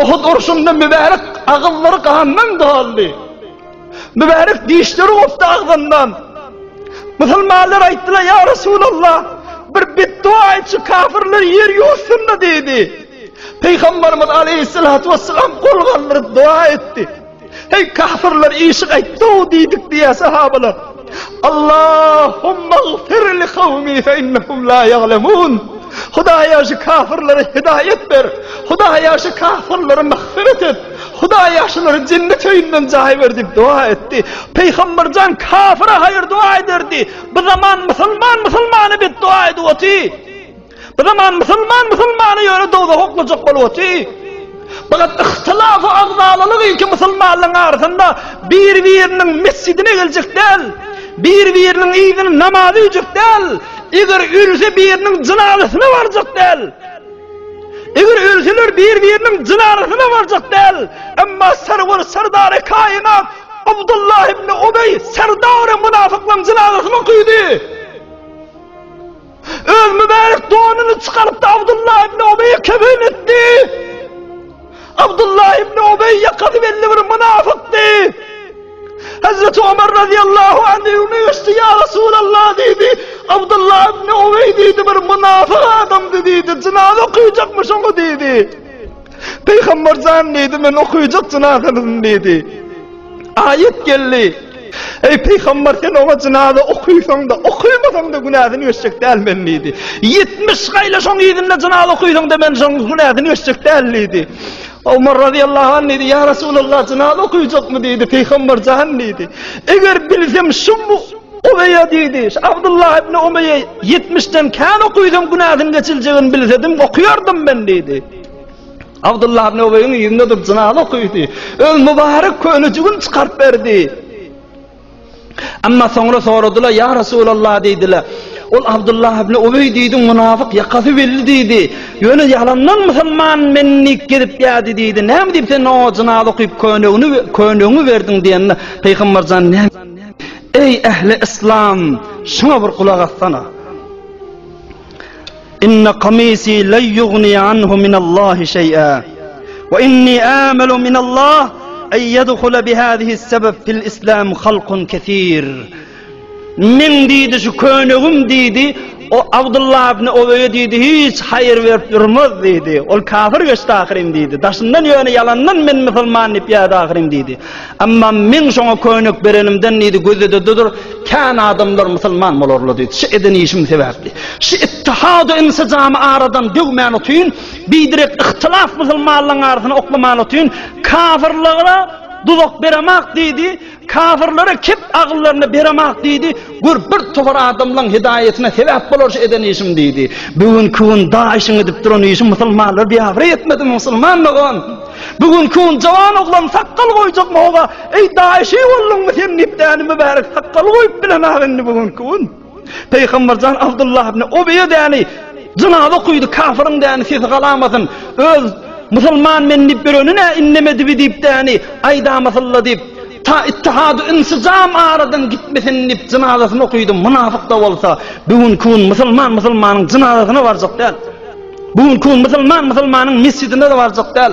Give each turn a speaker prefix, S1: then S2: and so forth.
S1: Uhud urşunda mübärek agyzlary gandan doldy. Mübärek dişleri gopdy agzyndan. Musulmanlar aýtdylar, "Ýa Resulallah, bir betdua etsi kafirler ýer ýuwsynda" diýdi. Pygamberimiz aleyhissalatu vesselam gol galdyryp dua etdi. Heý, kafirler işi gaýtdy-ow diýdik diýýär sahabalar. Allahumma gfir li kawmi fe innahum la ya'lemun. Hudaýa şu kafirlere hidaýat ber. Hudaýa şu kafirlere magfyrat et. Hudaýa şulary jennet öýünden jaý ber diýip doga etdi. Peýgamber jan kafire haýyr doga ederdi. Bu zaman musulman musulmana bet doga edip oty. Bu zaman musulman musulmany ýöne dowzaha oklajak bolup otyr. Fakat ihtilafy agzalalyk ilki musulmanlaryň arasynda bir-biriniň mesjidine geljek däl. Bir-biriniň yzyny namaz öýjek däl. Eger ölse biriniň jynazasyna barjak däl. Eger ölseler bir-biriniň jynazasyna barjak däl. Emma serwer serdary kainat Abdullah ibn Ubey serdary münafyklaryň jynazasyna okydy. Öz mübärek donuny çykaryp-da Abdullah ibn Ubeýe kefen etdi. Abdullah ibn Ubeý ýakasy belli bir mynafykdy. Hazreti Ömer radiyallahu anh öňüne geçdi. Ya Resulallah dedi. Abdullah ibn Uvey dedi. Bir münafık adamdı dedi. Cinaza okuyacakmış onu dedi. Peýgamber jan diýdi, men okaýjak jynazanyny diýdi. Aýat geldi. Eý peýgamber sen oňa jynaza okaýsaň-da, okaýmasaň-da günäsini öçjek däl men diýdi. 70 gaýla şoň yzynda jynaza okaýsaň-da men şoň günäsini öçjek däl diýdi. Omar radiyallahu anh diýdi, ýa Resulallah jynaza okaýjakmy diýdi, peýgamber jan diýdi. Eger bilsem şu Omeýe diýdi, şu Abdullah ibn Omeýe 70-den kän okaýsam günäsini geçiljegini bilsedim, okaýardym men diýdi. Abdullah ibn Ubeýiň ýüzüne durup jynaz okady. Öz mübarek könejigini çykaryp berdi. Amma soňra soradylar, "Ýa Resulallah" diýdiler. Ol Abdullah ibn Ubeý diýdi, "Munafyk ýakasy belli" diýdi. "Ýöne ýalandan musulman menlik gezip ýady" diýdi. "Näme diýip sen oňa jynaz okyp könegini könegiňi berdiň?" diýende, Pygamber jan näme diýdi? "Eý ähli yslam, şuňa bir gulak assana. Inna qamisi la yugni anhu min Allahi şey'a we inni amalu min Allah ay yadkhula bi hadihi sebep fil islam halqun kesir. Men diýdi şu könegim diýdi, o Abdullah ibn Oweýe diýdi, hiç haýyr berip durmaz diýdi. Ol kafir geçdi ahyryn diýdi. Daşyndan ýöne ýalandan men musulman diýip ýa-da ahyryn diýdi. Emma men şoňa köýnek berenimden diýdi, gözede dur, kän adamlar musulman bolarlar diýdi. Şu eden işim sebäpli. Şu ittihady insijamy aradan döwmän utyn, biderek ihtilaf musulmanlaryň arasyny oklaman utyn, kafirlara duzak beremak diýdi, kafirlere kep agyllaryny beremak diýdi. Gör, bir towar adamlaň hidaýatyna sebäp bolar şu eden işim, diýdi. Bu gün kün daýyşyň edip duran işi musulmanlar biabraý etmedimi, musulman dogan? Bu gün kün jawan oglan sakgal goýjak moga, eý, daýyşy bolduňmy sen diýip däni mübärek sakgal goýup bilenok indi bu gün kün. Peýgamberjan Abdullah ibn Ubeýe däni jynaza okydy, kafiryň däni sesi galamasyn, öz musulman men diýip ýöreni nä indemedibi diýip däni aýdamasylla diýip, Ta Ittihady Insijam aradan gitmesin diýip jynazasyny okydy, mynafyk-da bolsa, bu günki gün musulman musulmanyň jynazasyna barjak däl. Bu günki gün musulman musulmanyň mesjidine-de barjak däl.